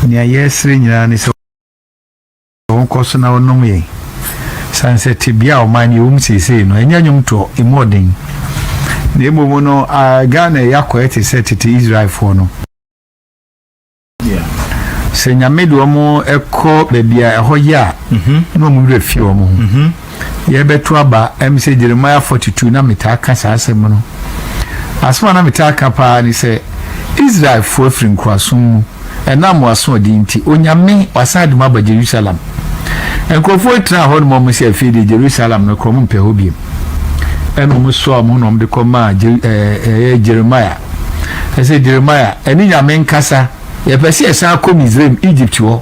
Nea yɛsrɛ nyinaa ne sɛ wɔnkɔ so na wɔnom yɛn. San sɛ tebea a ɔman no yɛwɔ mu seesei no, ɛnyɛ nnwomtoɔ, ɛmu ɔden. Na mmom no, Ghana ɛyɛ akɔyɛ te sɛ tete Israelfoɔ no. Sɛ Nyame de wɔn kɔ baabi a ɛhɔ yɛ a, na wɔn werɛ fi wɔn ho. yɛrebɛto aba ɛm sɛ Jeremiah forty two na metaa ka saa asɛm no asɛm a na metaa ka paa ne sɛ Israelfoɔ afiri nkoasom mu ɛnam w'asoɔden nti Onyame wasan de mo aba Jerusalem nkurɔfoɔ tena hɔ nom ɔmo sɛ afei deɛ Jerusalem no korɔ ɔmo mpɛ hɔ biem ɛna ɔmo soa ɔmo ho na ɔmo de kɔ maa ɛyɛ Jeremiah ɛsɛ Jeremiah ɛne Nyame nkasa yɛpɛ sɛ yɛsan kɔ Misraim Egypt hɔ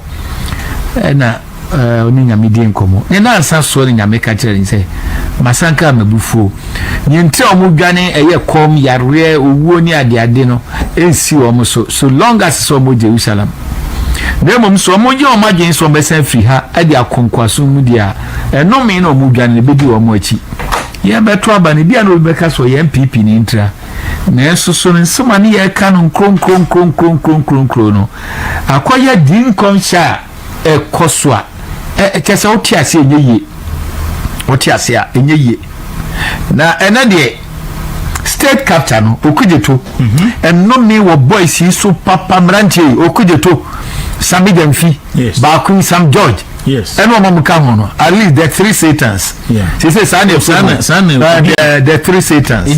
ɛna eh, ɔne nyame dii nkɔmmɔ ne nansa soɔ ne nyame ka kyerɛ ne sɛ masanka a mabufuo neɛ nti a wɔn dwane ɛyɛ kɔm yareɛ owuo ne adeade no ɛnsi wɔn so so long as sɛ wɔn jerusalem na mmom sɛ wɔn gye wɔn adwene sɛ wɔn bɛsan firi ha ɛde akɔ nkoaso mu deɛ a ɛnome na wɔn dwane no bɛdi wɔn akyi yɛn bɛto aba no bia na obi bɛka sɛ ɔyɛ npp ne ntira nanso so no nsɛm a ne yɛka no nkronkronkronkronkronkronkron no akɔyɛ di nkɔmhyɛ a ɛkɔ so a ɛkyɛ sɛ wote ase ɛnyɛ yie wote ase a ɛnyɛ yie na ɛnɛ deɛ state captain no okudzeto mhm. ɛnome wɔ boys yi so papa mmeranteɛ yi okudzeto sami dɛmfi baako yi sam george ɛna ɔma mu ka ho no at least the three satans sese saa na ɛfo mu the three satans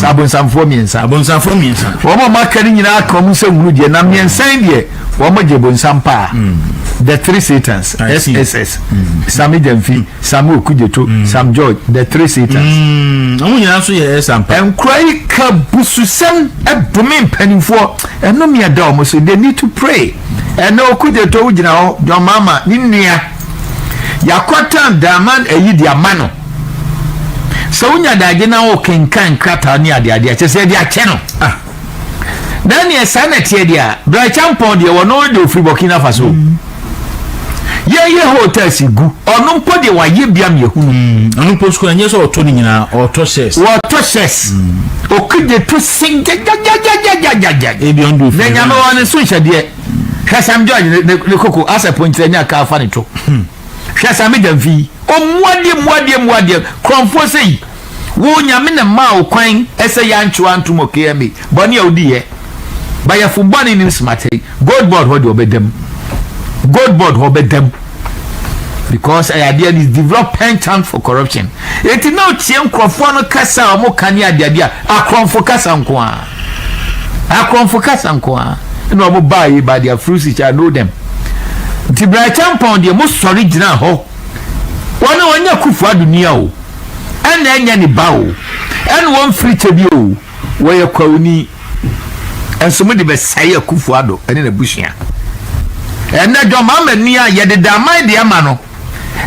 abonsamfoɔ mmiɛnsa wɔn a wɔaka no nyinaa aka wɔn nsɛm hunu deɛ na mmiɛnsa deɛ Wɔn gye bonsam paa The three Satans SSS Sammy Gyamfi Sammy Okudzeto Sam George The three Satans. Wɔn nyinaa nso yɛ ɛsa mpa. Nkura yi ka bususɛm dome mpanimfoɔ ɛnome ɛda wɔn so they need to pray ɛnɛ Okudzeto wo gyina hɔ John Mahama ne nua yakɔtan Daaman ayi de ama no sɛ wonya daagye na wokenkan nkrataa ne adeade a kyɛ sɛ ɛde akyɛ no. Daniel saa na ɛteɛ deɛ a Brai Champong deɛ wɔn deɛ ofiri Burkina Faso yɛyɛ hotels gu ɔno mpo deɛ wayɛ bia mi ehunu. Mm, ɔno mpo sukuu ɛnyɛ sɛ ɔtɔ ne nyinaa ɔtɔ shares. wɔtɔ shares mm. okugye to se gyagyagyagyagyagya. ebi ɔn do fi. na nyame wɔn ne so nhyɛdeɛ hwɛ sam george ne koko asɛ ponkyerɛ ne aka afa ne to hmm. hwɛ sam gya mfi ɔmuadeɛ muadeɛ muadeɛ kurɔnfoɔ sɛ yi. Wo Nyame na maa wo kwan sɛ yantwe wantom wɔ KMA. Bɔne a wodi yɛ. Bayɛfo bɔne nim smatɛe. Gold board hɔ deɛ ɔbɛda mu. Gold board hɔ ɔbɛda mu. Because ɛyɛ adeɛ is develop penchant for corruption. Enti na otie nkurɔfoɔ no kasa a wɔn ka ne adeade a akorɔmfo kasa nko ara. Akorɔmfo kasa nko ara. Ɛna wɔn baa yi by their fruits you shall know them. Nti Bra Acheampong deɛ mo sɔre gyina hɔ. Wɔn wɔnyɛ Kufuor Ado nia o. ɛna ɛnyɛ ne ba o ɛna wɔmfiri kyɛ bi o wɔyɛ kwawuni nso mo de bɛsɛe akufo ado ɛne n'abusua ɛnɛ dwɔn mama ni a yɛde da aman deɛ ma no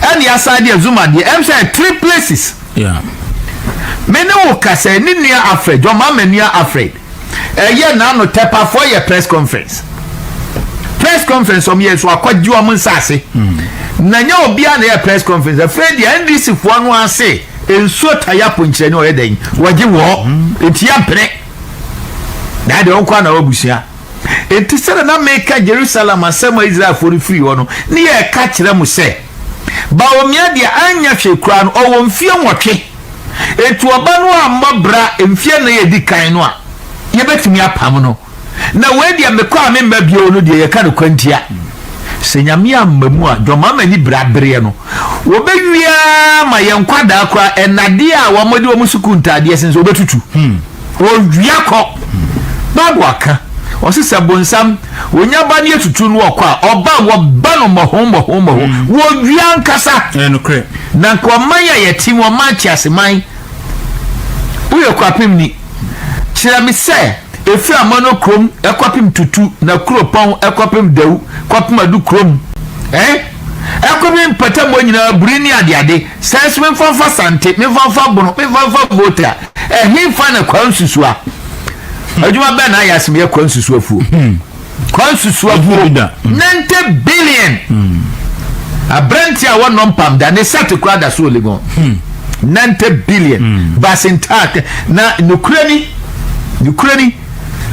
ɛne asan deɛ zuma deɛ ɛm sɛ three places me ne wo kasa ne nua afrɛ dwɔn mama ni afrɛ ɛyɛ n'ano tɛpafoɔ yɛ press conference press conference ɔmo yɛ so akɔgye ɔmo nsaase hmm. na nyɛ obiara na yɛ press conference afei deɛ ndc foɔ no ase nsuo taya ponkyerɛ ne ɔyɛ dɛn wɔgye wɔ hmm. eti yɛ mpene na yɛ deɛ ɔnkɔ ana ɔbusua eti sɛ na meka jerusalem asɛm a israelfoɔ no firi hɔ no ne yɛ ɛka kyerɛ mo sɛ. Bawumia deɛ anyɛ hwee koraa no, ɔwɔ mfeɛ nwɔtwe. Enti ɔba no ammɔ bra mfeɛ nnan a ɛdi kan no a, yɛbɛtumi apam no. Na wei deɛ mekɔ a memma bio no deɛ yɛka no kwantia. Sɛ Nyame amma mu a, John Mahama ani bere abereɛ no, wɔbɛwie ara ma yɛn nkwadaa koraa nnadeɛ a wɔde wɔn sukuu ntaadeɛ sensɛn, wɔbɛtutu. Ɔwia kɔ. Bible aka, ɔse sɛ bonsam ɔnya ba ne atutu no ɔkɔ a, ɔba a wɔba no mmɔho mmɔho mmɔho. Wɔwia ankasa. Na nka ɔman a yɛte mu, ɔman teaseman, woyɛ kwapem ni, kyerɛ me sɛ ɛfiri amano kurom ɛkɔpem tutu na kuropɔn ɛkɔpem dawu kɔpem adu kurom eh ɛkɔpem mpatamu nyinaa buri ne adeade Sɛ nso memfa mfa Sante, memfa mfa Bono, memfa mfa Volta, ɛhefa na Kwa Nsusua? Adwuma bɛn na ayɛ asem yɛ Kwa Nsusuafuo? Hmm. Kwa Nsusuafuo, 90 billion! Hmm. Aberante a wɔnnɔ mpam da, ne sate koraa da so Legon. 90 hmm. billion! Basentak, na nokorɛ ni, nokorɛ ni,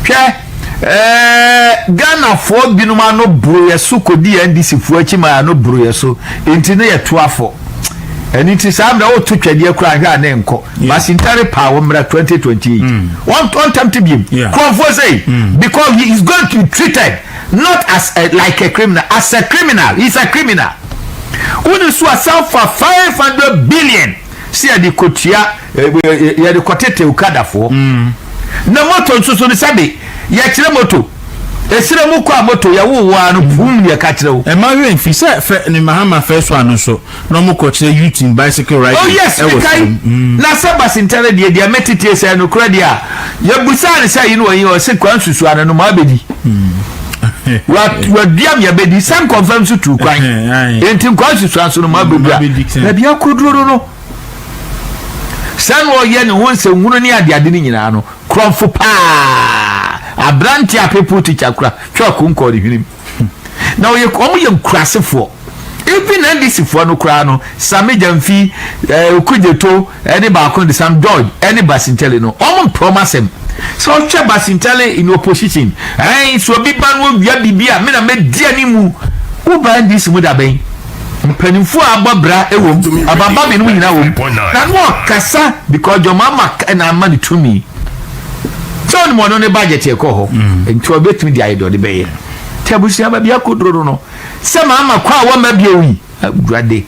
hwɛ, Ɛɛɛ Ghanafoɔ binom ano boro yɛ so kɔdi yɛn NDC foɔ akyi ma yɛn ano boro yɛ so nti ne yɛ to afɔ ɛno nti saa mmerɛ woto twɛdeɛ koraa hwɛ a ne nkɔ basintare paa wo mmra 2028 ɔntɛmte biom kurɔfoɔ sɛ because he is going to be treated not as a, like a criminal as a criminal he is a criminal wone so asan fa 500 billion sɛ yɛde kɔtua yɛde kɔtete okadafoɔ na moto nso so no sɛbe yɛkyerɛ moto ɛsrɛ mu kɔ a moto yɛwo wo a no pum ne ɛka kyerɛ wo ɛma werɛ mfi sɛ fɛ ne mahama fɛ so ano so na ɔmo kɔkyerɛ youth in bicycle riding oh yes mekae na sɛ basentare deɛ deɛ metetee sɛ no korɛ deɛ a yɛbusaa ne sɛ yi no ɔyi ɔse kwan susu ano no maabɛdi waduam yɛbɛdi sɛ nkɔmfam so tu kwan enti nkwan susu ano so no maabɛdi a baabi akɔduro no no Sɛ na ɔyɛ ne ho nsɛnhunu ne adeade no nyinaa no, korɔmfo paa aberante a people teacher kura twa ɔko kɔɔ ne hwenem. Na ɔyɛ wɔn yɛ nkurasefoɔ. Even NDC foɔ no koraa no, Sami Gyamfi, eh, Okudzeto, ɛne baako de Sam George, ɛne Basintele no, wɔn mpɛ wɔn asɛm. Sɛ ɔhwɛ Basintele in opposition, ɛn, sɛ obi ba no owia biribi a, me na mɛdi anim. Woba NDC mu da bɛn? Mpanyinfoɔ a abɔ bra wom, ababa mmienu mu nyinaa wom, na no ɔkasa because John Mahama na ama no tumi. Sɛ ɔnim ɔno ne budget ɛkɔ hɔ, mm. nti ɔbɛtumi de ayɛ deɛ ɔde bɛyɛ. Nti abusua baabi akɔduro no no, sɛ Mahama kɔ a wɔmma bio yi, awurade,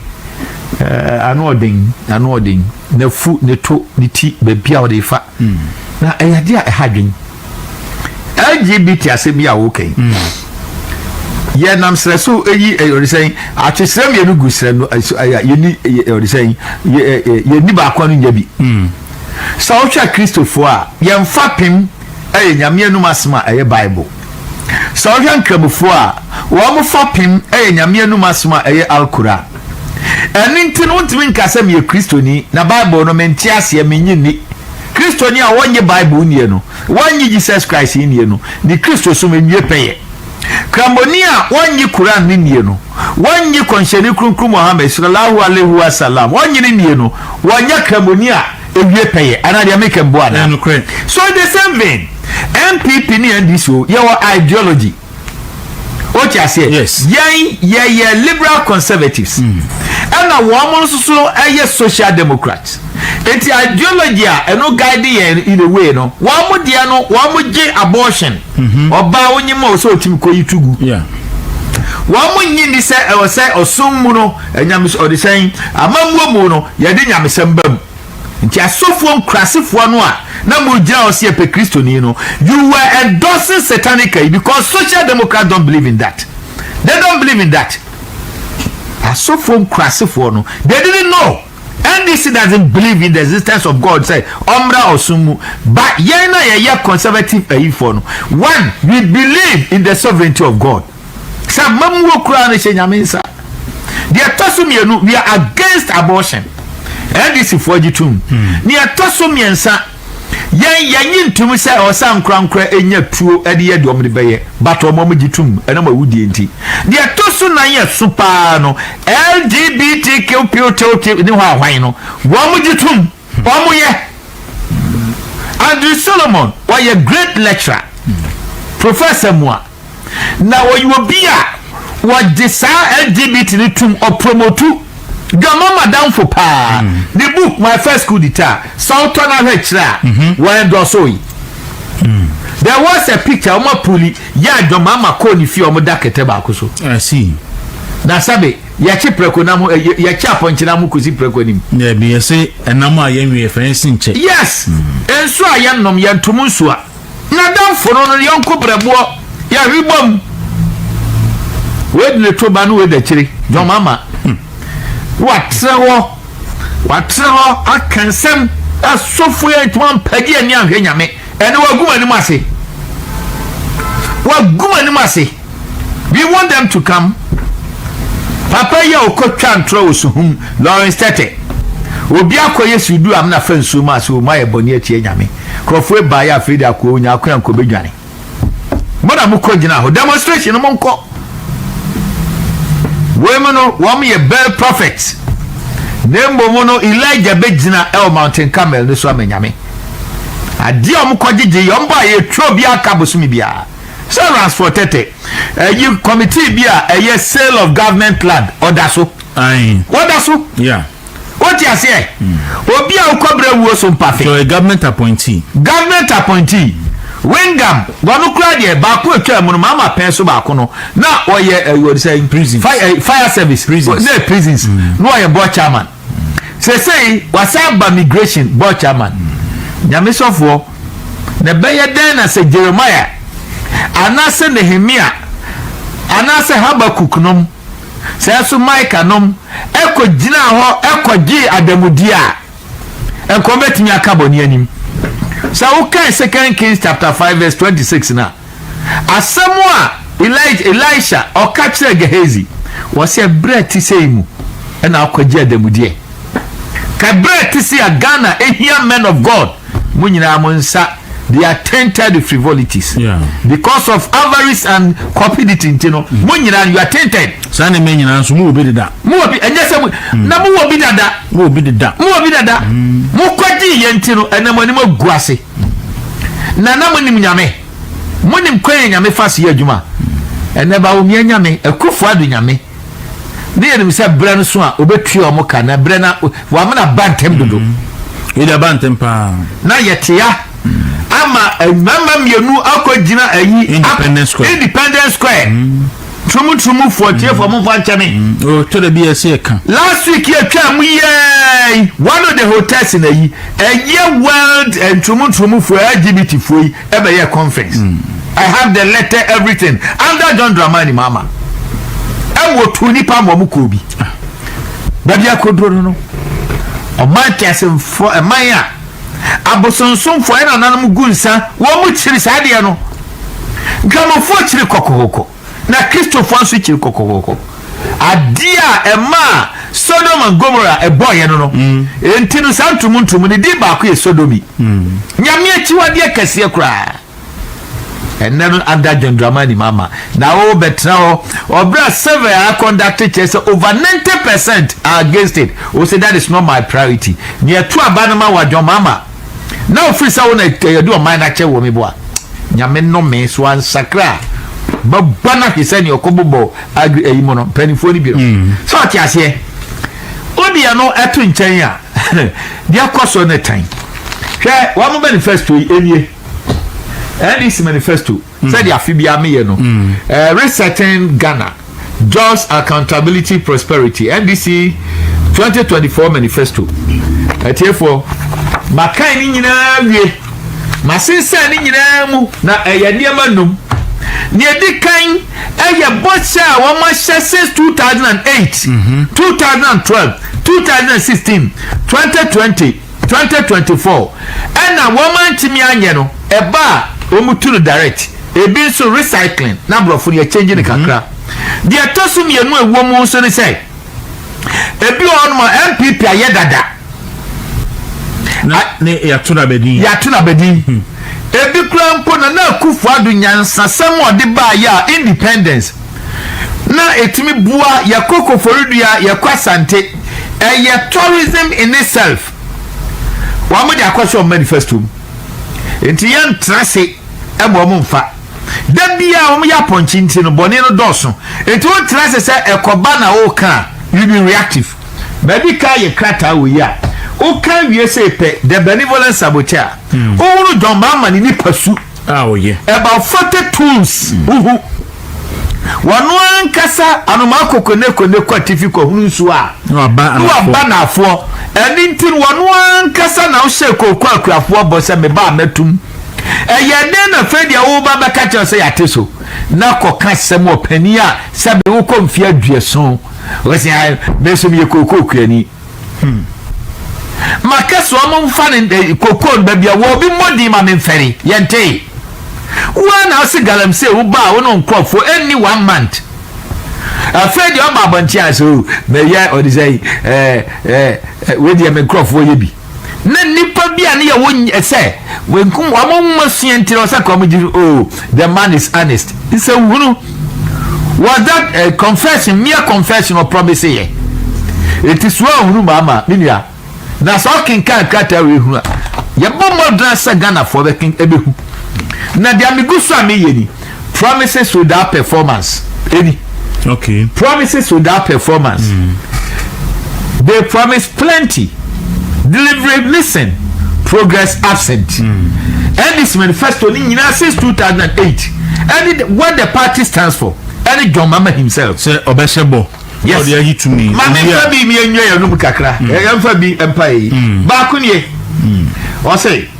eh, ano ɔden, ano ɔden, n'afu, ne to, ne ti, baabi a ɔde fa. Mm. Na ɛyɛ adeɛ a ɛha dwen. LGBT asɛm yi a woka yi yɛnam serɛ so yi ɔresɛn atwesrɛ mmienu gu serɛ no yɛni ɔresɛn yɛni baako no nya bi hmm. sɛ wohwɛ kristofoɔ a yɛmfa pem ɛyɛ nyame anum asɛm a ɛyɛ bible sɛ wohwɛ nkramofoɔ a wɔn fa pem ɛyɛ nyame anum asɛm a ɛyɛ alkora ɛno nti no wontumi nka sɛ meyɛ kristoni na bible no mente aseɛ menye nni Kristoni a ɔnnye Bible nnie no, wannye Jesus Christ nnie no, ne Kristosom awie pɛyɛ. Kramoni a ɔnnye Qur'an no nnie no, wannye Kɔnhyɛni Kronkron Muhammad, Sallallaahu Alaihi Wa Sallam, ɔnnye no nnie no, ɔnyɛ Kramoni a awie pɛyɛ. Anaa deɛ meka mboa anaa? So in the same vein, NPP ne NDC o, yɛwɔ ideology. o ti aseɛ yɛn yɛyɛ liberal conservatives hmm. ɛna wɔn mo nso so ɛyɛ social democrats nti ideology a ɛno guide yɛn in a way no wɔn mo deɛ no wɔn mo gye abortion mhm. ɔbaa wonyi mu a ɔsɛ ɔtumi kɔ yi tugu wɔn mo nyi ni sɛ ɛwɔ sɛ ɔsom mu no ɛnyamesɛ ɔde sɛn amammuo mu no yɛde nyamesɛm ba mu. Nti asɔfoɔ nkurasefoɔ no a na mo gyina hɔ sɛ yɛpɛ kristoni no you were endorsing satanic ayi because social democrats don't believe in that they don't believe in that asɔfoɔ nkurasefoɔ no they didn't know NDC doesn't believe in the existence of God sɛ ɔmmra ɔsom mu but yɛn na yɛyɛ conservative ayifoɔ no one we believe in the sovereignty of God Sɛ amammuo koraa no hyɛ Nyame nsa. Deɛ ɛtɔ so mmienu, we are against abortion. NDC foɔ gye tom. Hmm. Deɛ ɛtɔ so mmiɛnsa, yɛn yɛnye ntom sɛ ɔsa nkorankora nya tuo de yɛ deɛ ɔmde bɛyɛ but ɔmɔm gye tom ɛnam awudie nti. Deɛ ɛtɔ so nan yɛ so paa no, LGBTQ ne hɔ ahwan no, wɔn gye tom. Ɔmo yɛ. Andrew Solomon ɔyɛ great lecturer, professor mu a, na ɔyɛ obi a ɔgye saa LGBT no tum, ɔpromotu dwamma m'adamfo paa, mm. ne book My First School Di Taa, sɛ wotɔ no ahwɛ kyerɛ a, mhm. wɔn dɔso yi. Mm. There was a picture ɔmo apuli yɛ adwamma ma kɔɔ ne fie ɔmo da kɛtɛ baako so. I see. Na sɛbe. Yɛkye prɛko nam ho ɛ yɛkye apɔnkye nam ho kosi prɛko anim. Dabi, yɛse ɛnam a yɛnwe yɛfrɛ no sinkyɛ. Yes, nsu a yɛnnom, yɛntom nsu a. N'adamfo no, no yɔnko brɛboɔ, yɛhwe bom. Wei de ne to ba ne wei da akyire, John Mahama. W'atrɛ hɔ, w'atrɛ hɔ aka nsɛm a sɔfoɔ yi antumi ampagye ani anhwɛ Nyame. Ɛnde wɔagu m'anim ase, wɔagu m'anim ase. We want them to come. Papa yi a ɔkɔtwa ntorɔ wɔ Suhum, Lawrence Tete. Obi akɔyɛ sudu amena fa nsuo mu ase, wɔn ayɛ bɔne atia Nyame. Nkurɔfoɔ ebaeɛ afei de akoa Onyaako a nkɔ bɛdwane. Mo na mokɔ gyina hɔ, demonstration no monkɔ. Wei mu no, wɔn yɛ Baal prophet. Na mmom no, Elijah bɛgyina ɛwɔ Mountain Carmel no so ama Nyame. Adeɛ a wɔkɔgyegye yɛ wɔn bɔ a yɛtua obiara ka bosome biara sɛ Ransford Tete ayi committee bi a ɛyɛ sale of government land ɔda so ɔda so wote aseɛ obi a wokɔbrɛ wuo so mpafe so government appointee government appointee Wingam wɔn koraa deɛ baako atwa mu no maama pɛn so baako no na ɔyɛ ɛyɛ sɛ fire service na prisons na ɔyɛ board chairman. sesei wasa aba migration board chairman nyame sɔfoɔ na ɛbɛyɛ dɛn na sɛ jeremiah anaasɛ nehemia anaasɛ habakuk nom sɛ so micah nom ɛkɔ gyinaa hɔ ɛkɔ gyee adamudeɛ a ɛnkɔ bɛtumi aka bɔne anim sɛ wokae second kings chapter 5 verse 26 no a Asɛm a Elijah, Elisha, ɔka kyerɛɛ Gehazi, ɔsɛ berɛ te sei mu ɛna akɔgye adamudeɛ. Ka berɛ te sei a Ghana ɛhia men of God, mo nyinaa mo nsa, they are tainted with frivolities. Yeah. Because of avarice and cupidity nti no, mo nyinaa you are tainted. Saa nneɛma nyinaa nso mo wɔ bi deda. Mo wɔ bi, ɛnyɛ sɛ mo, mm. na mo wɔ bi dada. Mo wɔ bi deda. Mo wɔ bi dada. Mm. Mo kɔgye yɛn ti no, ɛnam anim agu ase. Na na monim Nyame. Monim kwan a Nyame fa so yɛ adwuma. Ɛnɛ Bawumia Nyame, Akuffo Addo Nyame, na yɛnim sɛ berɛ no so a ɔbɛtua wɔn ka, na berɛ no a wamena ba ntɛm dodo. Wei de aba ntɛm paa. Na yɛtea ama mmarima mmienu akɔgyina ayi, Independence Square. Independence Square. Turumu turumu fo atiefo mo nfa nkyɛ me. Mm, o tɔ da bi yɛ se ɛka. Last week yɛ twaa mu yɛɛi one of the hotels na yi ɛyɛ world eh, nturumu nturumu fo LGBT fo yi ɛbɛyɛ conference. Mm. I have the letter everything under John Dramani Mahama ɛwɔ tu nipa ma ɔmo kɔɔ bi. Ah. Baabi akoduro no no ɔman teasemfoɔ ɛman a. Abosonsomfo a nananom gu nsa wɔn mu kyiri saa adeɛ no. Dwamofoɔ kyiri kɔkɔkɔkɔ, na Kristofoɔ nso kyiri kɔkɔkɔkɔ. Adeɛ a ɛmaa Sodom and Gomorrah ɛbɔeɛ no no, mm. enti no saa ntumuntumu no di baako yɛ sodomi. Mm. Nyame akyiwadeɛ kɛseɛ koraa. Ɛnnɛ no ada John Dramani Mahama na ɔrebɛtena hɔ ɔbrɛ a survey a akɔndakte kyerɛ sɛ over ninety percent are against it. Ose that is not my priority. Nea ɛto aba no ma wa John Mahama na ofiri sɛ wo na ɛde ɔman no akyɛ wɔ me bo a Nyame nnome so ansakra a bɛbɔ no ahwe sɛnea ɔkɔbobɔ agri ayi mu no mpanimfoɔ no bi no. Hmm. Sɛ ɔte aseɛ wodeɛ no ɛto nkyɛn a deɛ kɔ so ne tan hwɛ wɔn manifesto yi ɛnie NDC manifesto mm. sɛdeɛ afe biara meyɛ no mm. eh, resetting Ghana Jobs Accountability Prosperity NDC 2024 manifesto atiefoɔ makan ne nyinaa wie masensan ne nyinaa mu na ɛyɛ nneɛma num deɛ ɛdi kan ɛyɛ bɔhyɛ a wɔahyɛ since 2008 2012 2016 2020 twenty twenty four ɛna wɔn antumi anyɛ no ɛba a wɔn tu no direct ebi nso recycling na aborɔfo no yɛ change no kakra mhm. deɛ ɛtɔ so mmienu a ɛwɔ mu nso ne sɛ ebi wɔ hɔnom a npp ayɛ dada na ne yɛato no abɛdin yɛato no abɛdin mhm. ebi kura mpo na na akufo ado nyansasɛm a ɔde baayɛ a independence na ɛtumi boa yɛkɔ koforidua yɛkɔ asante ɛyɛ tourism in itself wɔn mo de akɔhyɛ wɔn manifesto mu nti yɛn ntra se ɛma wɔn nfa da bia wɔn yɛ apɔnkye nti no bɔne no dɔɔso nti wɔn ntra se sɛ ɛkɔba na wɔka you be reactive baabi ka yɛ krataa wɔ yi a wɔka wie sɛ pɛ the benevolent saboteur wɔworo hmm. John Mahama ne nipa su a ɔyɛ. About forty tools huhu. Wano ankasa anomaa kɔ kone kone kɔ atifi kɔ hunu nsuo a. Na waba anafoɔ. Na waba anafoɔ. Ɛni nti no wano ankasa na wohyɛ kooko akuafoɔ bɔ sɛ meba a mɛtum. Ɛyɛ dɛn na fei deɛ woba bɛka kyerɛ sɛ yate so. Na kɔ ka sɛm wɔ panin a sɛbe wokɔ mfie aduason. Wɔsi ha mɛsom yɛ kooko kuani. Hmm. Makɛse ɔmo mfa ne eh, kokoo no baabi a wɔbi mmɔ din ma memfɛre. Yɛntee. Woa na ase galamsey wo baa wo ne nkorɔfoɔ ɛnni one month. Afei deɛ ɔba abɔnten a so mɛyɛ ɔde sɛ ɛɛ ɛɛ wei deɛ me nkorɔfoɔ yɛ bi. Na nipa bi a ne yɛ wo sɛ wɔn nwoma sua nti na ɔsɛ ka wɔn gyi o. The man is honest. Nsɛnhunu. Was that a confession, mere confession or promise yɛ? Eti so ahunu mu ama me nua? Na sɛ ɔkenkan krataa wei hunu a, yɛbɔ mmɔdena sɛ Ghanafoɔ bɛken ɛbɛhu. Na deɛ megu so a meyɛ ni, promises without performance ɛni. Okay. Promises without performance. Mm. They promise plenty. Delivery missing. Progress absent. Mm. And this manifesto ni nyinaa since 2008. And what the party stands for. And John Mama himself. Sɛ ɔbɛhyɛ bɔ. Yes. Ɔde ayi tumi. Maame nfa bi mi enyo yɛ num kakra. Ɛyɛ mm. nfa bi mpa yi. Mm. Baako nie. Ɔsɛ. Mm.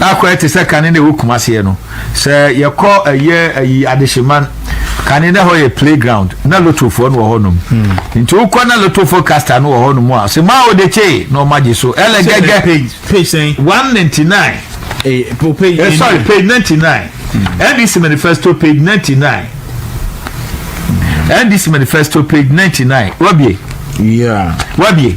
na akɔ ɛte sɛ kane na ɛwɔ kumaseɛ no sɛ yɛkɔ ɛyɛ ayi adehyeman kane na hɔ yɛ playground na lotofoɔ no wɔ hɔnom hmm. nti wokɔ na lotofo casta no wɔ hɔnom a sɛ maa wode kyee na ɔma gye so ɛlɛ gɛgɛ 199 eh, eh, sorry page 99 ndc hmm. manifesto page 99 ndc manifesto page 99 wabie yeah. wabie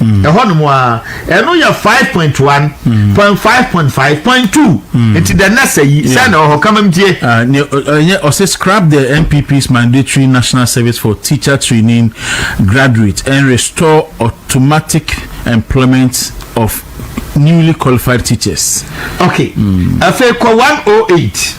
ɛhɔ nom a ɛno yɛ five point one hmm. point five point five point two hmm. nti the next ayi sɛ na ɔhɔ kama mtie. ɛnyɛ ɔsɛ scrap the npp's mandatory national service for teacher training graduates and restore automatic employment of newly qualified teachers. okay afei kɔ one oh eight.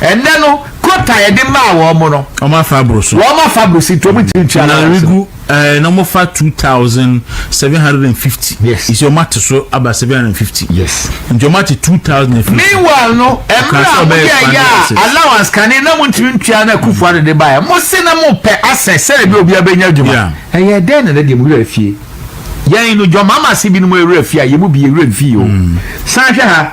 Ɛnnɛ no, quota a yɛde maa wɔn no. Wɔn afa aboro so. Wɔn afa aboro so nti wɔn ntumi ntua na regu ɛɛ na wɔn fa two thousand seven hundred and fifty. Yes. Nti wɔn ate so aba seven hundred and fifty. Yes. Nti wɔn ate two thousand and fifty. Meanwhile no, ɛmira a wɔn yɛ yɛ a allowance kane na wɔn ntumi ntua na kufu ano de ba yɛ. Mo se na mo pɛ asɛ sɛde bi obi abɛnya adwuma. Ɛyɛ dɛn na ne deɛ mo wura fie? Yɛn no jɔn mama se binom wura fie a yɛn mu bi yɛ wura fie o. Hmm. San hwɛ ha.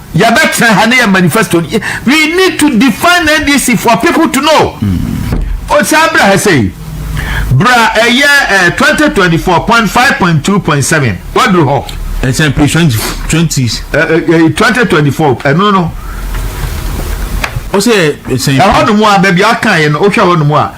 Yɛbɛtena ha ne yɛ manifesto no. We need to define NDC for people to know. Mm. O saa bra ha sei. Bra ɛyɛ eh, 2024.5.2.7. Waduru hɔ. Ɛsɛn page 20. 20. Uh, uh, 2024 ɛno no. Ɔsɛ ɛsɛn. Ɛhɔ nom a baabi a ɔka yɛ no, wohwɛ hɔ nom a.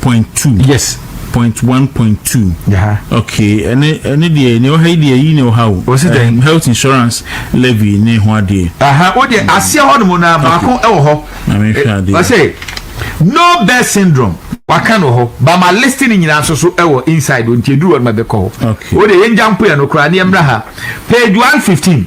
point two. Yes. Point one point two. Yaha. Okay ɛne ɛne deɛ nea ɛwɔ ha yi deɛ yi na ɛwɔ ha o. Wɔsi dɛn? Um, health insurance levy ne ho adeɛ. Aha o deɛ aseɛ hɔ nom na baako ɛwɔ hɔ. Na mi nhwɛ adeɛ. Wɔsi no birth syndrome waka no hɔ ba ma list ne nyinaa nso so ɛwɔ inside o nti eduru hɔ nom ɛbɛkɔ hɔ. Okay. O deɛ yɛn gya mpo yɛn no koraa ne yɛn mra ha page one fifteen.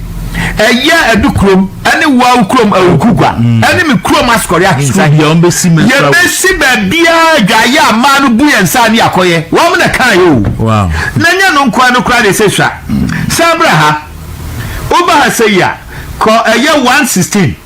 ɛyɛ ɛdu kurom ɛne wawu kurom awuku gua mm. ɛne me kurom asukɔre ahensa yɛbɛsi baabiaa adwaeɛ a mmaa no bu yɛn nsa ne akɔyɛ wɔm na kaa yɛ o na nyɛ no nkoa no koraa de sɛ sua mm. sɛ berɛ ha woba ha sɛ yi a kɔ ɛyɛ 116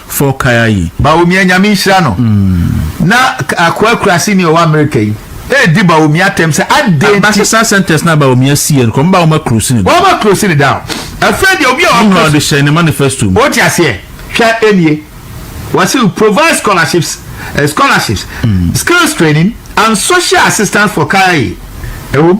fɔ kaya yi. Bawumia Nyame nhyira no. Na Akoa Kurase ni a ɔwɔ Amerika yi redi Bawumia atɛm sɛ adɛn nti. Base saa centers no a Bawumia siiɛ no, kɔmba wɔn aclose ne da. Wɔn aclose ne da. Afei deɛ obi a ɔpɛ. Meanwhile ɔde hyɛɛ ne manifesto mu. Wote aseɛ? Hwɛ nie. Wɔse provide scholarships, scholarships, skills training and social assistance for kaya yi. Ɛwom.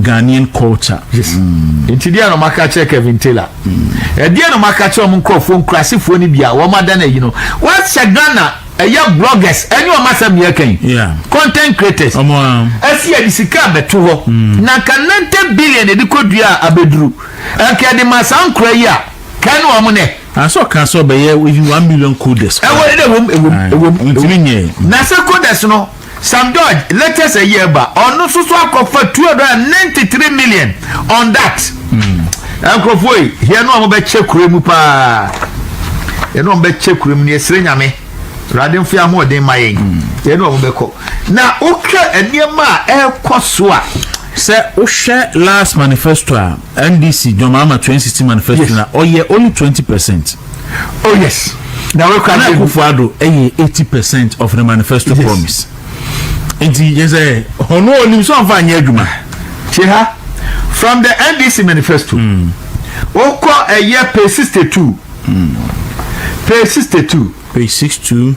Ghanaian culture. Yes. Mm. Nti deɛ na ɔmo aka kyerɛ Kevin Taylor. Mm. Ɛdeɛ na ɔmo aka kyerɛ ɔmo nkorɔfoɔ nkurasefoɔ no bi a wɔn ada na yi no. Wɔahyɛ Ghana ɛyɛ bloggers ɛne ɔmo asɛm yɛ kɛn. Yeah. Content creators. Ɔmo a. Ɛsi ɛde sika abɛto hɔ. Mm. Na nka ninety billion ɛde kɔ dua a abɛduru. Ɛnka ɛde ma saa nkura yi a kɛn na ɔmo nɛ. Asɔ kan sɔ bɛyɛ one million coders. Ɛwɔ ɛdɛ ɛwɔ mu ɛwɔ mu ɛwɔ mu. Ntumi nyɛ. Na sɛ coders no. Sam Dodge latest ayi ɛba ɔno soso akɔfa two hundred and ninety three million on that hmm. nkurɔfoɔ yi hia no a wɔbɛkyɛ kure mu paa yɛne wɔn bɛkyɛ kure mu ne yɛsrɛ nyame awurade mfe ahoɔden ma yɛn hmm. yɛne wɔn bɛkɔ na wohwɛ nneɛma a ɛrekɔ so a sɛ wohwɛ last manifesto a ndc dwom ama twenty sixty manifesto na ɔyɛ only twenty percent. Oh yes. Nana Akufo Addo ɛyɛ eighty percent of the manifesto yes. promise. Nti yɛ sɛ ɔno onim so anfa anyɛ adwuma. Tie ha from the NDC manifesto. Mm. Okɔ ɛyɛ page sixty two. Mm. Page sixty two. Page sixty two.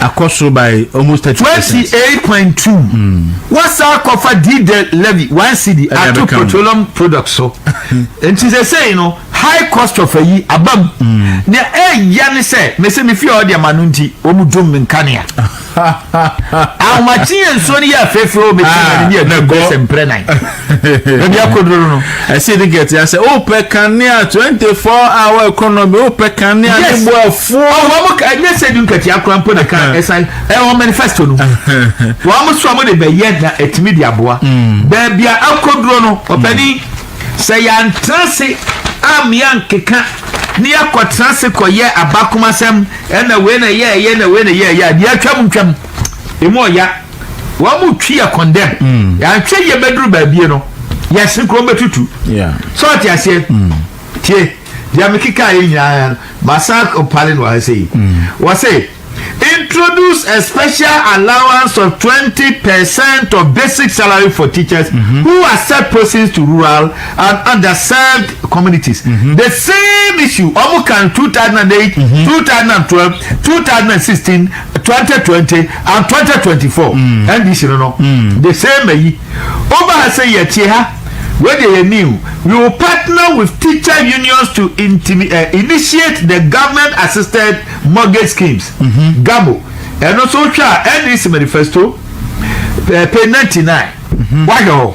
Akɔ soro by almost thirty percent. Twenty eight point two. Wasan akɔfa diesel levy one cedi ato petroleum products so. Nti sɛsɛyi no high cost of ayi aba mu. Nea ɛya ne sɛ mese me fie a ɔde ma no nti wɔn dum me nkanea. Ahomakye yɛ nsuo no yɛ afeefee o mete ma ne ne agu bɛsɛ mprɛ nan. baabi akodoro no. ɛsi de gɛte asɛ wopɛ kanea twenty four hour economy wopɛ kanea ne bo afuo. ɔwɔ mo ka ɛnyɛ sɛ di nkatia kora mpo na ka ɛsan ɛwɔ manifesto no wɔn mo so a mo de bɛyɛ na ɛtumi de aboa hmm. baabi a akodoro no ɔpɛni hmm. sɛ yɛantena se amea nkeka ne yɛakɔtena se kɔyɛ abakomasɛm ɛna wei na yɛɛyɛ na wei na yɛɛyɛ a deɛ atwam ntwam ɛmu ɔya Wɔn mu twi yɛ condemn. Mm. Yɛanhwɛ yie bɛduru baabie no, yɛsene kurom bɛtutu. Sɛ ɔte aseɛ. Mm. Tie, deɛ mekeka yɛ nyinaa no, masan mpale no ahasɛ yi. Mm. Wɔ se, introduce a special allowance of 20 percent of basic salary for teachers mm -hmm. who accept persons to rural and underserved communities. Mm -hmm. The same issue, Omukan 2008, mm -hmm. 2012, 2016, 2020. And twenty twenty four mm. NDC no no mm. the same ayi over ha sɛ yɛtie ha wei deɛ yɛ new we will partner with teacher unions to intimi, uh, initiate the government assisted mortgage schemes mm -hmm. gabo ɛno nso hwɛ a NDC manifesto uh, page ninety nine mm-hmm. wahwɛ hɔ.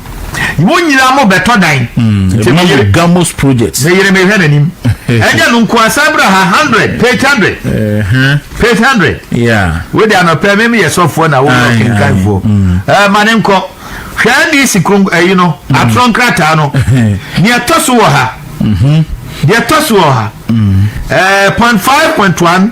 wɔn nyinaa mo bɛtɔ dan. Hmm, nti mi yere gamos project. mi yere mi hwɛ n'anim ɛnyɛ no nko asan bra ha hundred page hundred page hundred wo de anɔpɛ mi mi yɛ sɔfoɔ na wɔn yɛ kankanfoɔ ɛɛ ma ne nkɔ hwɛ ndc kron ɛyi no hmm. atorɔ nkrataa no nea ɛtɔ so wɔ ha deɛ ɛtɔ so wɔ ha ɛɛ point five point one.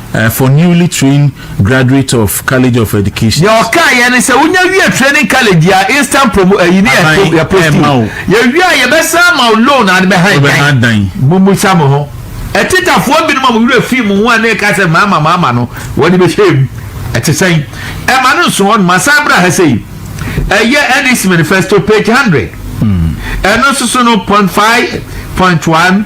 For newly trained graduates of College of Education. Deɛ ɔkaa yɛ ne sɛ wonya wie training college yɛ a instant promo ayi ne yɛ to yɛ postu yɛ wie a yɛbɛsan ama wo loan a bɛhan dan mummusa mo ho ɛtetafoɔ binom a mo werɛ fii mo ho a ne ɛka sɛ maama maama no wɔde bɛhyɛ mu ɛte sɛn ɛma no nso hɔ no masan bra ha sɛ yi ɛyɛ NEC manifesto page hundred ɛno nso so no point five point one.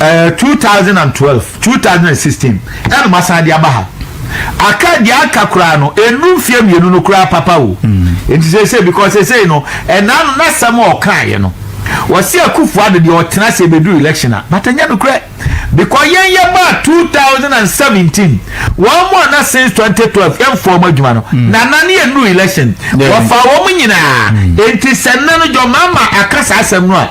ɛɛ two thousand and twelve two thousand and sixteen ɛna mo asan de aba ha aka deɛ aka koraa no enu mfie mmienu no koraa papa o mm. nti sɛ sɛ because sɛ sɛ no ɛnaa no n'asɛm a ɔkaeɛ no wɔsi akufo ado deɛ ɔtena sɛ ebedu election a but ɛnyɛ no korɛ because yɛn yɛ ba two thousand and seventeen wɔn mu a na since twenty twelve yɛn fɔ wɔn adwuma no mm. na na ne yɛ nu election wɔfa wɔn nyinaa mm. nti sɛ nna no jɔ mama aka saa asɛm no a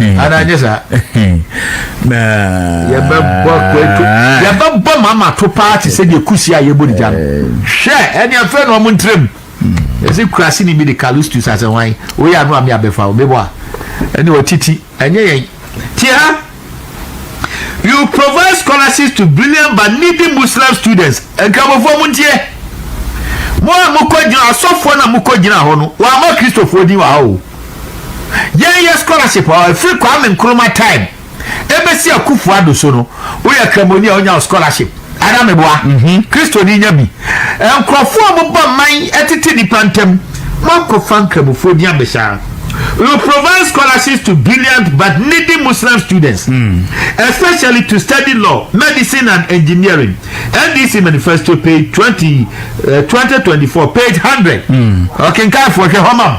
ananyɛ saa yɛbɛbɔ kwato yɛbɛbɔ mama to paa te sɛ deɛ kusi a yɛbɔ ne gya no hwɛ ɛne afei na ɔmo ntiram ɛsɛ kurase ne bi de callistus asɛ hwan woyɛ ano a me abɛfa wo mebɔ a ɛne ɔtiti ɛnyɛ yɛn ti ha you provide scholarships to brilliant but needy muslim students nkramofoɔ mo nteɛ mo a mokɔ gyina asɔfoɔ no a mokɔ gyina hɔ no wɔama kristofoɔ din wɔ ha o Yɛn yɛ scholarship ɔ ɛfiri Kwame Nkrumah time ɛbɛsi Akuffo Addo so no wo yɛ kramoni a wo nya wo scholarship anaa me boa Christo ni nya bi nkrɔfoɔ a ɔmo bɔ man ɛtete nipa ntɛm mo ankɔ fa nkramofoɔ din abɛhyɛ a you provide scholarships to brilliant but needy Muslim students especially to study law medicine and engineering NDC manifesto page 20 uh, 2024 page 100 ɔkenkanfoɔ hwɛ hɔ ma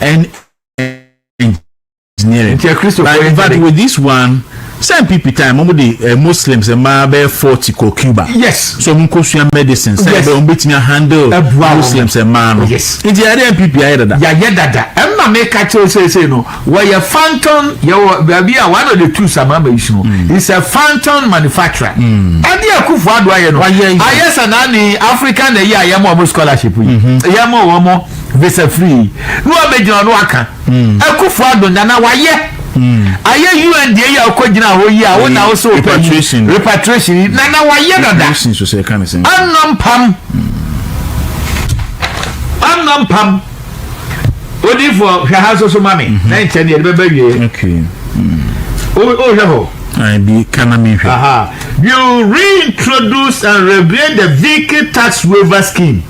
and engineering. Nti Kristo kɔ yɛ But with this one, sɛ NPP time, wɔn de eh, Muslims mmaa bɛyɛ forty kɔ Cuba. Yes. So wɔn kɔ sua medicine sɛ Yes. ɛbɛ wɔn bɛtumi ahandle Ɛboa wɔn. Muslims mmaa no. Yes. Nti yɛde NPP ayɛ dada. yɛayɛ dada ɛma meka kyerɛ seesei no wɔyɛ phantom yɛwɔ baabi a one of the two samama is no Hmm. is a phantom manufacturer ɛde akufo ado ayɛ no Wayɛ yɛ. ayɛ sɛ naane africa na ɛyɛ a yɛma ɔmo scholarship yi yɛma wɔn visa free na wabɛgyina ɔno aka hmm. akufo adonda na wayɛ hmm. ayɛ un deɛ yi a ɔkɔ gyina hɔ yi a wo na wo sɛ ɔpɛ yi repatriation yi na na wayɛ dada ɔnɔ mpam ɔnɔ hmm. mpam odifoɔ hwɛ ha soso ma me mhm. na nkyɛn deɛ ɛde bɛbɛ wie wohwɛ hɔ bi kana mi hwɛ. you reintroduce and revive the vehicle tax waiver scheme.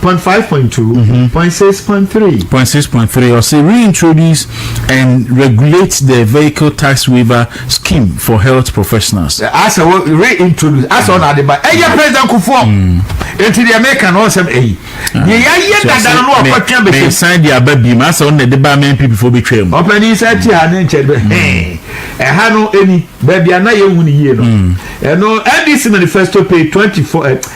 Point five point two, point six point three. Point six point three ɔsɛ reintroduce and regulate the vehicle tax waiver scheme for health professionals. Asɛ wɔ reintroduce asɛ ɔna ade ba ɛyɛ president kufuɔ nti deɛ meka no ɔsɛm ɛyi deɛ yɛayɛ dada no na wakɔtwe abɛhyɛ. Mɛsan de aba biem asɛ ɔna ɛde ba ama NPP foɔ bɛtwa mu. Ɔpanin sɛ ti ha ne nkyɛn bɛ hɛn ɛha no ɛni baabi a na yɛhu no yie no ɛno NDC manifesto page twenty four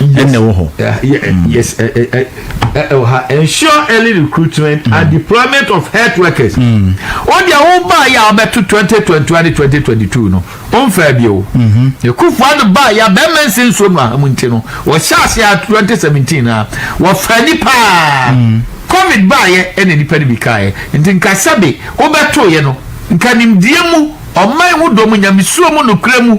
ɛna ɛwɔ hɔ. yes ɛwɔ ha ensure early recruitment mm. and deployment of health workers. Mm. o deɛ o baa yɛ a ɔbɛto twenty twenty one ne twenty twenty two no o nfa bi o. ekufu ado baa yɛ a bɛrima nsi nsuo no a mu nti no wɔhyɛ ase a twenty seventeen na wɔfa ni paa. Mm. covid baa yɛ ɛna nipa ni bi kaa yɛ nti nkasa bi o bɛ to yɛ no nkanimdie mu ɔman ho dɔm nyamisuo mu nukura mu.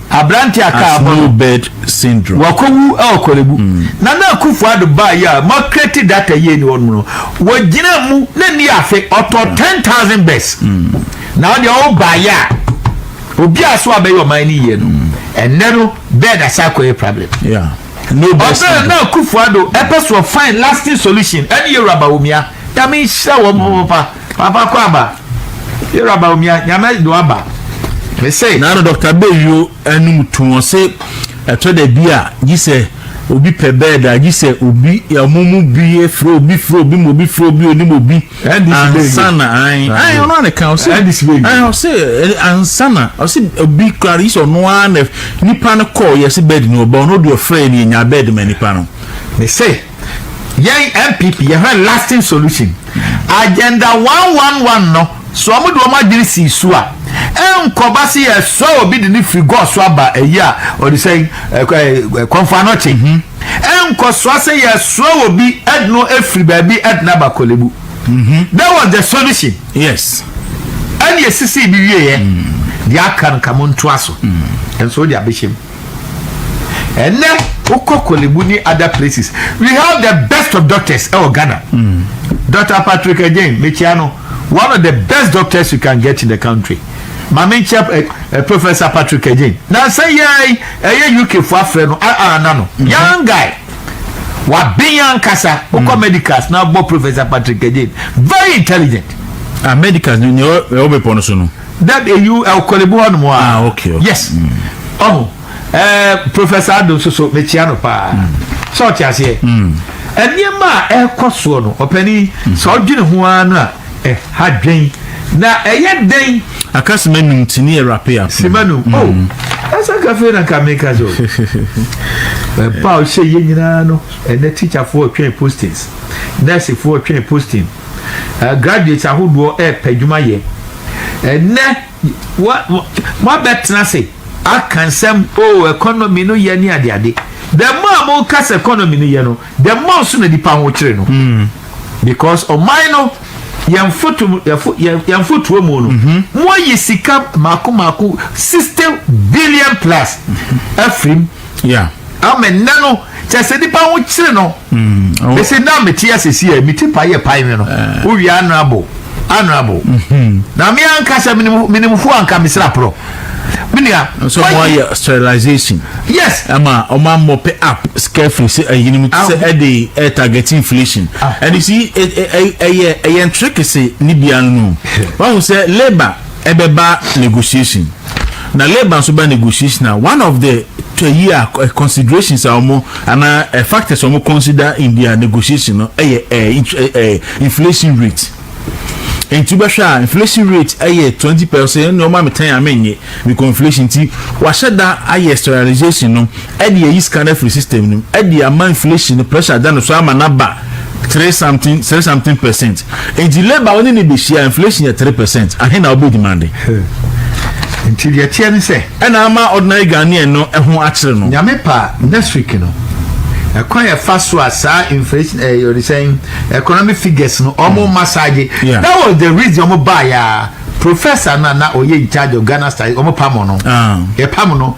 Aberante a kaa abɔ no, wakowu wɔ Korle-Bu. Nana Akufo-Addo baeɛ a moakreti data yie ni hɔ nom no, ɔgyinaa mu na nni afe, ɔtɔɔ ten thousand bes. Na wo deɛ wo baeɛ a, obi a so abɛyɛ ɔman no yie no, ɛnnɛ no bɛɛ na san kɔyɛ problem. Ɔbɛn Nana Akufo-Addo ɛpɛ so ɔfind lasting solution ɛne Yewura Bawumia. Nyame nhyira wɔn papapapa. Papa Kwaba, yɛrɛ aba omi a nyame do aba. Me se. Na no Dr. Beyo anum to wɔn se ɛtɔ da bi a gye sɛ obi pɛ bɛɛd a gye sɛ obi ɔmo mu bi efiri obi firi obi mu obi firi obi onim obi ansa na ayi ayi ɔno a ne kan ɔse ayi ɔse ansa na ɔse obi kura gye sɛ ɔno a na nipa no kɔ yɛ se bɛɛd ni ɔba ɔno deɛ ɔfrɛ ni nya bɛɛd ma nipa no. Me se. Yɛn NPP yɛhwɛ lasting solution. Agenda one one one no so ɔmo de ɔmo adwene sii so a, ɛnkɔba se yɛsoa obi de no firi Gɔɔ so aba ayi a ɔde sɛn Kɔmfo Anokye. Ɛnkɔsoa sɛ yɛsoa obi de no firi baabi de no aba Korlebu. That was the solution. Yes. Ɛne esisii de wieɛ. Deɛ aka no ka montoa so. Nso wode abɛhyɛ mu. ɛnɛ wokɔ kɔlebu ne other places we have the best of doctors ɛwɔ eh, ghana mm. dr patrick again mekyia no one of the best doctors you can get in the country maame nkyɛ ɛ eh, eh, professor patrick again nansa yɛn ɛyɛ uk fo afrɛ no aa na no mm-hmm. young guy waben ankasa wokɔ mm. medicals na bɔ professor patrick again very intelligent. ah medicals ni ni ɔbɛ pɔ no so no. That a you eh, ɔkɔle bi hɔnom a. Ah, okay, okay. Yes. Mm. Ɔho. Eh, Professor Ado nso so mekyia no paa. Mm. Sɛ ɔte aseɛ. Mm. Nneɛma a ɛrekɔ soɔ no, ɔpani mm. sɛ ɔdwene ho ara no a ɛha eh, dwen na ɛyɛ eh, dɛn. Aka sima num ti ni ɛrape eh, apo. Sima num. Mm. Oh, ɛsɛ kafe na nka meka so. Ɛpa ɔhyɛ yɛ nyinaa no, ɛnɛ tikyafoɔ twɛn postings, nɛɛsefoɔ twɛn posting. eh, graduates ahodoɔ ɛrepɛ adwuma yɛ ɛnɛ moabɛtena se aka nsɛm o oh, economy no yɛ ne adeade the more a moka sɛ economy no yɛ no the more nso na nipa ho kyere no hmm. because ɔman no yɛn foto yɛn fotoɔ mu no mhm. moayi sika mako mako sixty billion plus mhm. afirim. Yeah. ama nnɛ no kyɛ sɛ nipa ho kyere no mesi mm, na mete asɛsi a meti pa yɛ pae me no eh. wowie honorable honorable mhm. na me anka sɛ menimfoɔ anka mesra porɔ menua so moayɛ sterilization yes ɛma ɔma mmɔ pɛ app scarefree sɛ ayinom eh, ti sɛ ah. ɛde eh, target inflation ah. ɛne si ɛyɛ ɛyɛ ntere kese ne bia no no wahu sɛ labour ɛbɛba negotiation na labour nso ba negotiation a one of the twayi a considerations a wɔn anaa factors a wɔn consider in their negotiation no ɛyɛ ɛɛ inflation rate nti bɛhwɛ a inflation rate ɛyɛ twenty percent ɛna ɔma mi tan ame nye because inflation ti wahyɛ da ayɛ sterilization no. Ɛde ayi sika no afiri system no mu ɛde ama inflation no pressure ada no so ama no aba three something three something percent. Nti labour a wo ne no bɛhyia inflation yɛ three percent ahe na wobɛ demande? Nti deɛ ɛteɛ ne sɛ. Ɛna ama ordinary Ghanaian no ɛho akyere no. Nyame pa next week no ɛkwan yɛ fa so a saa inflation ɛyɛ eh, ɔdesɛn economic figures no ɔmo hmm. massage yeah. that was the reason ɔmo baa ya professor na na ɔyɛ in charge of Ghana studies ɔmo pam no ah. yɛ pam no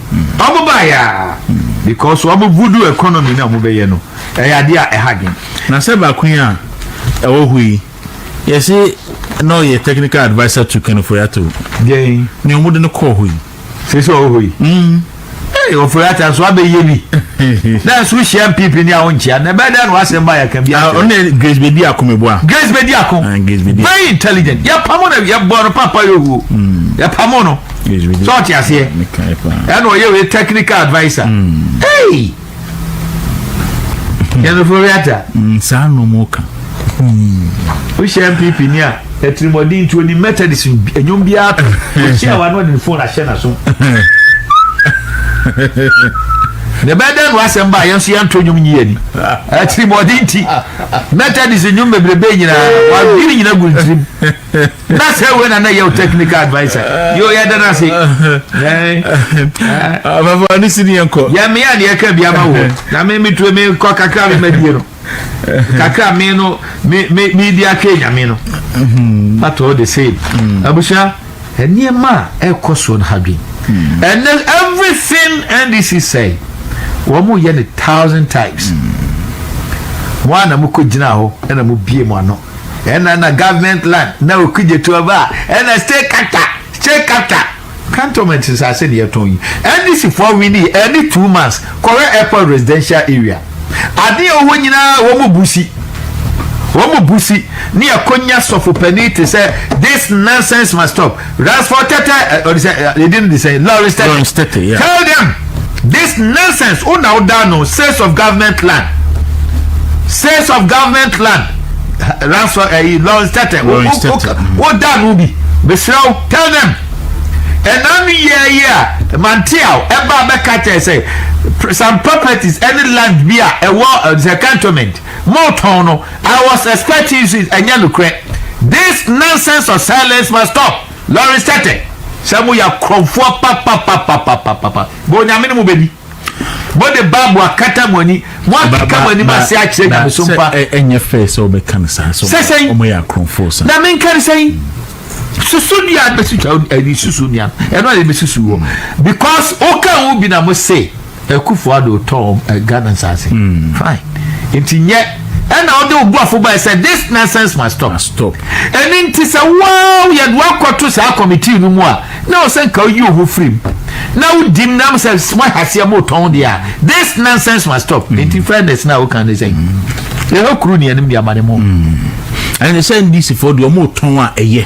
ɔmo baa yɛ a because ɔmo voodoo economy na ɔmo bɛyɛ no ɛyɛ adeɛ a ɛha dwen. Na sɛ baako yi a ɛwɔ hɔ yi yɛsi na ɔyɛ technical adviser to Ken Ofori-Atta o. Dɛn. Nea ɔmo de no kɔɔ hɔ yi. Sisi ɔwɔ hɔ yi. Mm. Hey, Ofori-Atta nso abɛyɛ bi. Na nso hyia mpipi ni a ɔnkyia na ɛbɛyɛ dɛ na wasɛm ba yɛka bi. Ah, ɔne Grace bedi ako meboa. Grace bedi ako. Ah, Grace bedi. Very intelligent. Yɛ pamo na yɛ bɔ no papa yɛ owuo. Mm. Yɛ pamo no. sɛ ɔte aseɛ ɛna ɔyɛ wei technical adviser hmm. hey yɛnofo wiata hmm, saa nomu ka hmm. wohyɛ mpp ni a atirimɔden ntuo ni methodist ɛnwom biara to ɔhyɛ wa no ɔde ne phone ahyɛ na so na ɛbɛyɛ dɛ no asɛm ba yɛn nso yɛn nto nnwom nyi ani atirimɔden ti methodist nnwom bebrebe nyinaa wadwiri nyina gu ntirim na sɛ wei na na yɛ technical adviser yo yɛda no ase afafa ne si ne yɛnkɔ yɛmea ne yɛka bia ma wɔ na me metue mekɔ kakra me madie no kakra me no medi atwe nyame no but all the same abusua nneɛma a ɛkɔ soɔ no hadwen and then everything ndc sɛ wɔn yɛ no thousand times wɔn a na mo kɔ gyina hɔ ɛna mo bie mo ano. ɛna na government land na oku gye to ɔba ɛna state capital state capital cantonment nsase ne yɛtɔn yi ndc foɔ wini ɛne two months kɔrɛ airport residential area adeɛ ɔwɔ nyinaa wɔn mu busi wɔn mu busi ne ɛkɔnya sɔfo panin te sɛ this nonsense must stop. Ransford Tete, eh, ɔde sɛ, eh, ne din no de sɛ, Lawrence Tete. Lawrence Tete, yeah. Tell them this nonsense, wo na woda no sales of government land. Sales of government land. Ransford, eh, Lawrence Tete, wo- Lawrence wo- wo- Tete, mm. woda no bi. Mesrɛ wo, tell them. ɛna no yɛ yi a manteaw ɛba bɛka kyerɛ sɛ pr- some properties ɛne land bi a ɛwɔ eh, sɛ cantonment Mo tɔn no I was expecting you to ɛnyɛ nokorɛ this nonsense of silence must stop Lawrence Tetteh sɛ mo yɛ akorɔmfoɔ papapapapapapa bɔ Onyame ne mo bɛdi mo de bible akata mo ani mo akeka mo anim ase akyerɛ nyameso mpa sɛ ɛnyɛ fɛ sɛ wobɛka no saa sɛ sɛsɛn ɔmo yɛ akorɔmfoɔ saa na menka no sɛn susu nua no bɛsi twa ɛni susu nua no ɛno a yɛbɛsusu wɔ because woka wo bi na mo se Akufo Addo tɔɔ eh, Ghana nsase. Mm. Fine. Nti nyɛ ɛna ɔde obuafo bae sɛ this nonsense must stop. Must stop. Ɛne nti sɛ wow yɛde wakɔto saa kɔmitii no mu a na ɔsɛ nka woyi oho firim na wodi mu nam sɛ moahaseɛ motɔn deɛ a this nonsense must stop. Mm. Nti fairness na woka ne sɛ mm. ɛhɔ kuru ne anim de ama ne mu. Mm. Ɛne sɛ ndisifoɔ deɛ ɔmotɔn a ɛyɛ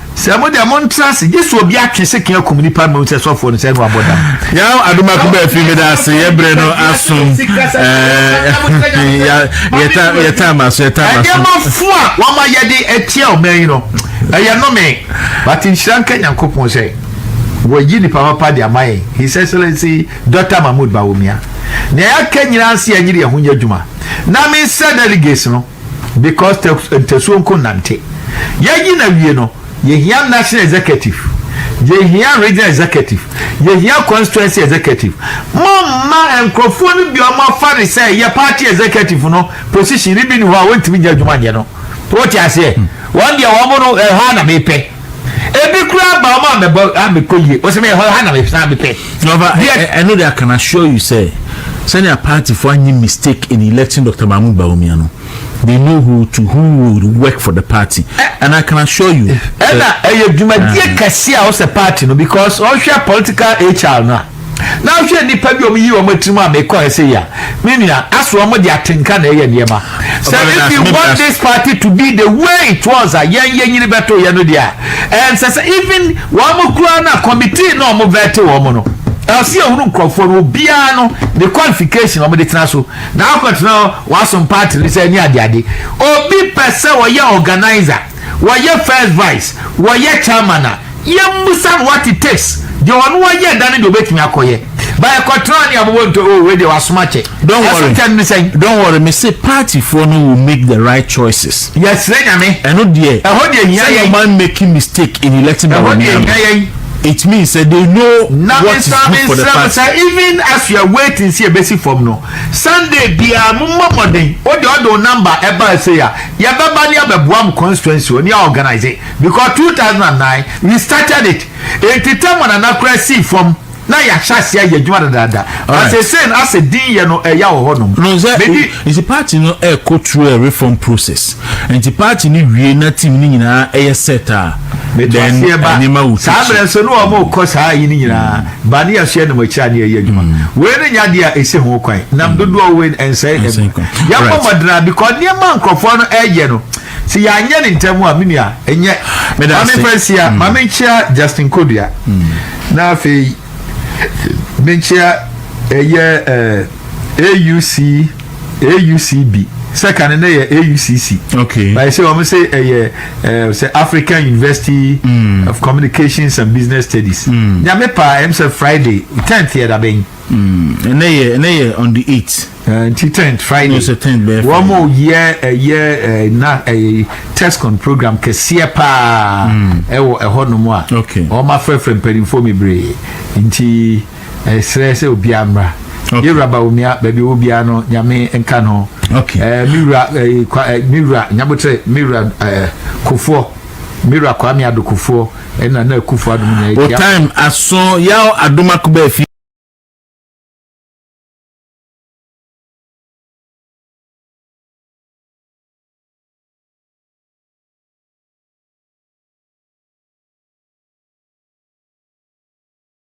Sɛ mo deɛ montra ase gye sɛ obi atwe sekan akum nnipa mmom sɛ sɔfoɔ no sɛ ɛno abɔ dam. Yaw adomako bɛɛ fi meda ase yɛ berɛ no asom yɛta ama so yɛta ama so. Ɛdeɛma fo a wɔn ayɛde atia ɔman yi no ɛyɛ nome but nhyira nka Nyankopɔn sɛ wɔyi nipa papa de ama yɛn His Excellency Dr. Mahmoud Bawumia. Nea yɛaka nyinaa nse yɛnyere yɛn ho nyɛ adwuma na mensɛ delegates no Because tɛ ntasuo nko nnante. Yɛayi no awie no, yɛhia National Executive, yɛhia Regional Executive, yɛhia Constituency Executive. Momma nkurɔfoɔ no bi a wɔafa no sɛ ɛyɛ party executive no position no bi nni hɔ a wɔntumi nyɛ adwuma nyɛ no. Wote aseɛ? Wɔn deɛ wɔn no ɛha na mepɛ. Ebi koraa ba ɔma mɛbɔ a mekɔ yie wɔsɛ meyɛ hɔ ha na mesan mepɛ. Ɔba ɛno de I can assure you sɛ sɛnea partyfoɔ anyi mistake in electing Dr. Mahmood Bawumia no they know who to who would work for the party and I can assure you. Ɛna ɛyɛ dwumadie kɛse a ɔsɛ party no because ɔhwɛ political HR no a. na ahwɛ nnipa bi a wɔyi wɔn tirim a mekɔɛ sɛ yi a me nua aso wɔn de atenka na ɛyɛ nneɛma sɛ if you want this party to be the way it was a yɛn yɛn nyini bɛto yɛn no deɛ ɛnsɛ sɛ even wɔn kura na committee na wɔn vɛte wɔn no ɛsɛ ehunu nkurɔfoɔ no obiara no ne qualification wɔn de tena so na akɔtena wɔasom party no sɛ ɛne adeade obi pɛ sɛ ɔyɛ organizer. wɔyɛ first vice, wɔyɛ chairman a, yɛmmisa no what it takes, deɛ ɔno ɔyɛ da no deɛ ɔbɛtumi akɔyɛ. Ba ɛkɔtena ne abobɔ nto oh wei deɛ wasom akyɛ. Don't worry. Ɛso kyɛn ne sɛn? Don't worry, me se party foɔ no will make the right choices. Yɛsrɛ Nyame. Ɛno deɛ. Ɛhɔ deɛ hia yɛn. Sɛ yɛn man making mistake in electing our man. Ɛhɔ deɛ hia yɛn. it means that they know na what is good for the party. na even as you are waiting see ebesi fam no sunday bia mo mmɔ mmɔden o de ɔde o number ɛba ɛsɛ ya Yɛbɛba ne abɛboa mo constituency hɔ ne yɛ organise because two thousand and nine we started it nti term one nana koraa sii fam na yɛahyɛ aseɛ ayɛ adwuma dadaada but seesei no asɛ din yɛ no ɛya wɔ hɔ nom. No sɛ Medi. nti party no ɛkɔ through a reform process nti party no wie na team no nyinaa ɛyɛ set a Mete then aseɛ ba. nneɛma will Saa take mmerɛ shape. nso ne wɔn rekɔ saa ayi no nyinaa. Ba ne asoɛ nam akyire a ne yɛyɛ adwuma. Wei no nyɛ adeɛ a ɛsi ho kwan. Nam dodoɔ wɔ wei no ɛnsɛe adwuma. Yɛabɔ mmɔden ara because nneɛma a nkurɔfoɔ no ɛreyɛ no sɛ yɛanyɛ no ntɛm a me nua ɛnyɛ. Ma memfa nsia, ma menkyea Justin Kodua na afei menkyea ɛyɛ ɛɛ. AUC AUCB sɛ ka ne nɛ yɛ AUCC okay. but sɛ wɔn sɛ ɛyɛ ɛɛ sɛ African University mm. of Communications and Business Studies mm. nyame pa ɛm sɛ Friday tenth yɛ da bɛn. ɛnɛ yɛ ɛnɛ yɛ on the eight. Eh, nti tenth Friday no sɛ tenth bɛɛ Friday wɔn yɛ ɛyɛ ɛɛ na ɛyɛ testcon program kɛseɛ paa ɛwɔ ɛhɔ nom a wɔn afrɛfrɛ mpanyinfoɔ bebree nti. Mesrɛ sɛ obiara mmra. Okay. Yɛwura Bawumia, baabi ɔwɔ biara no, Nyame nka no. Okay. Eh, me wura, eh, kwa, eh, me wura, Nyabotere, me wura, eh, Kofoɔ, me wura Kwame Ado Kofoɔ, ɛna na Akufo Adom nyinaa. O time aso yaw Adom Akuba afi.